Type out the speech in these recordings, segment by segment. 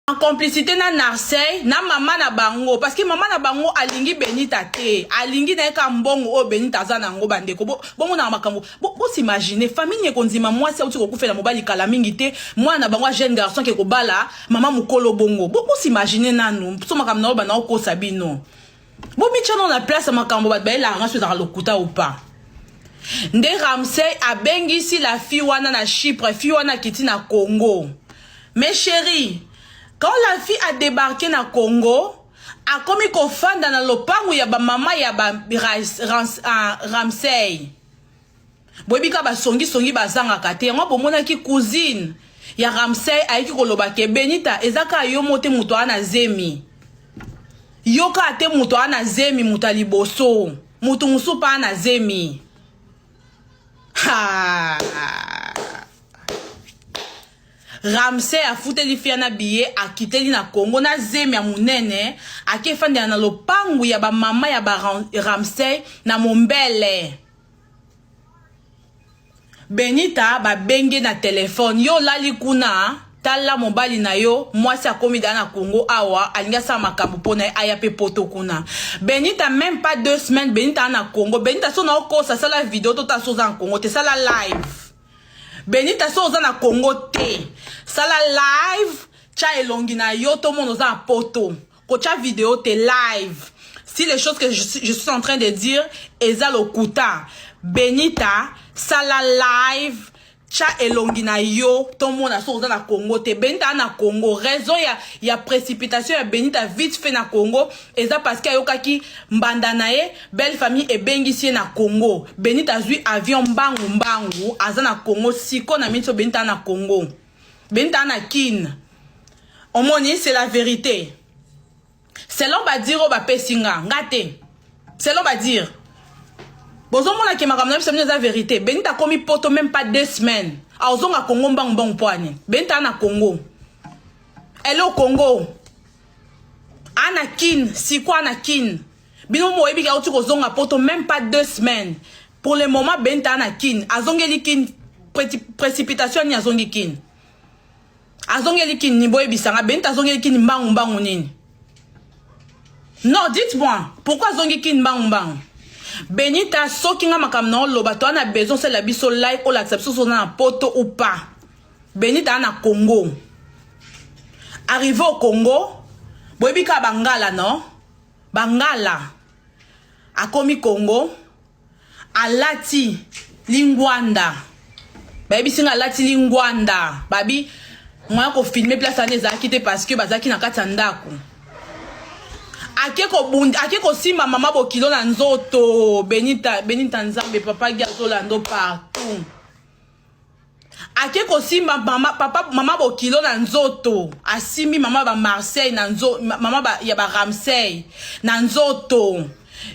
en complicité na Narcey na mama na bango parce que mama na bango alingi Benita te alingi na ye ka mbongo oyo Benita aza na yango bandeko bongo na makambo bosimagine bo famille ekondima mwasi auti kokufela mobali kala mingi te mwana na bango jeune garçon ke kobala mama mokolo bongo bosimagine bo nanu so makambo na oyo bana okosa bino bomitya no na place ya makambo bato bayelaka ngai so ezalaka lokuta ou pas nde ramsey abengisi la fille wana na chypre fille wana akiti na congo mais chérie quand la fille a débarqué na congo akomi kofanda na lopango ya bamama ya ba, ras, rans, uh, ramsey boyebi ka basongisongi bazangaka te yango bomonaki cousine ya ramsey ayeki koloba ke benita eza kaka yo mo te moto aa na zemi yo kaka te moto aa na zemi moto ya liboso moto mosusu mpe aa na zemi ha ramsey afuteli fia na biye akiteli na congo na zemi ya monene akefandela na lopangu ya bamama ya baramsey na mombele benita babenge na telefone yo olali kuna tala mobali na yo mwasi akomi da na congo awa alingi asala makambo mpo na ye aya mpe poto kuna benita meme pas deux semaines benita na congo benita so na okosa sala video tota so oza na congo te sala live benita so oza na congo te sala live tya elongi na yo tomona oza na poto kotia video te live si les choses que je, je suis en train de dire eza lokuta benita sala live tya elongi na yo tomona soki oza na congo te benita a na congo raison ya, ya précipitation ya benita vite fait na congo eza parce que ayokaki mbanda na ye belle famille ebengisi ye na congo benita azwi avion mbangu mbangu aza na congo siko na minso benita a na congo benta na kin omoni c'est la vérité selon badire oyo bapesi nga nga te selon badire bozomona ke makambo na biso mino eza vérité benita akomi poto même pas deux semaines aozonga congo mbangu mbangu mpo ani benita ana congo ele okongo ana kin siko ana kin bino moyebi ke auti kozonga poto même pas deux semaines pour le moment benta na kin azongeli kin précipitation nini azongi kin azongeli kin ni boyebisa nga benta azongeli kin mbangu mbangu nini non dites moi pourquoi azongi kin mbangu mbangu benita soki nga makambo na oloba to ana besoin osalela biso like olakisa biso soki oza na poto ou pas benita ana congo arrive au congo boyebi kaka bangala non Bangala akomi Congo alati lingwanda bayebisi nga alati lingwanda babi moya kofilme place wana ezalaki te parce que bazalaki na kati ya ndako ake kobunda ake kosimba mama bokilo na nzoto benita benita nzambe papa gi azolanda partout ake kosimba mama papa mama bokilo na nzoto asimbi mama ba marseille na nzo mama ba, ya ba ramsey na nzoto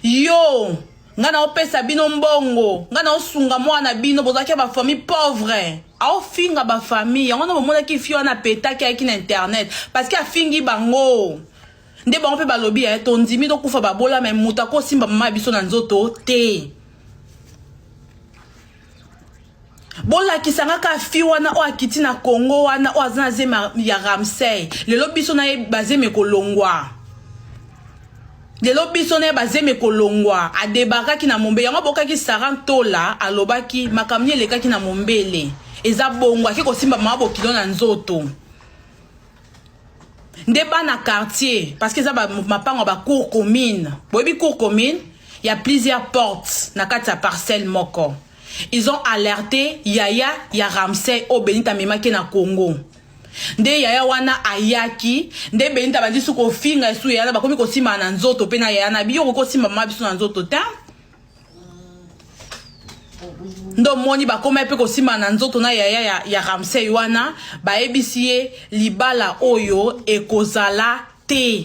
yo nga naopesa bino mbongo nga naosunga mwana bino bozalaki ya bafamille pauvre aofinga bafamille yango na bomonaki fi wana apetaki ayaki na internet parce que afingi bango nde bango mpe balobi ya eh, tondimi tokufa babola me moto akosimba mama ya biso na nzoto te bolakisa nga ka fi wana oyo akiti na congo wana oyo aza na zemi ya ramsey lelo biso na ye bazemi ekolongwa lelo biso na ye bazemi ekolongwa adebakaki na mombele yango abokaki sara ntola alobaki makambo nini elekaki na mombele eza bongo ake kosimba mama bokilo na nzoto nde bana quartier parce que eza mapango ya bacour commune boyebi cour commune ya plusieurs portes na kati ya parcelle moko ils ont alerté yaya ya ramsey oyo benita amemaki na congo nde yaya wana ayaki nde benita bandisi kofinga esu yaya bakomi kosimba na nzoto mpe na yaya na biyo okoki kosimba mama biso na nzoto te nde omoni bakomaki mpe kosimba na nzoto na yaya ya, ya ramsey wana bayebisi ye libala oyo ekozala te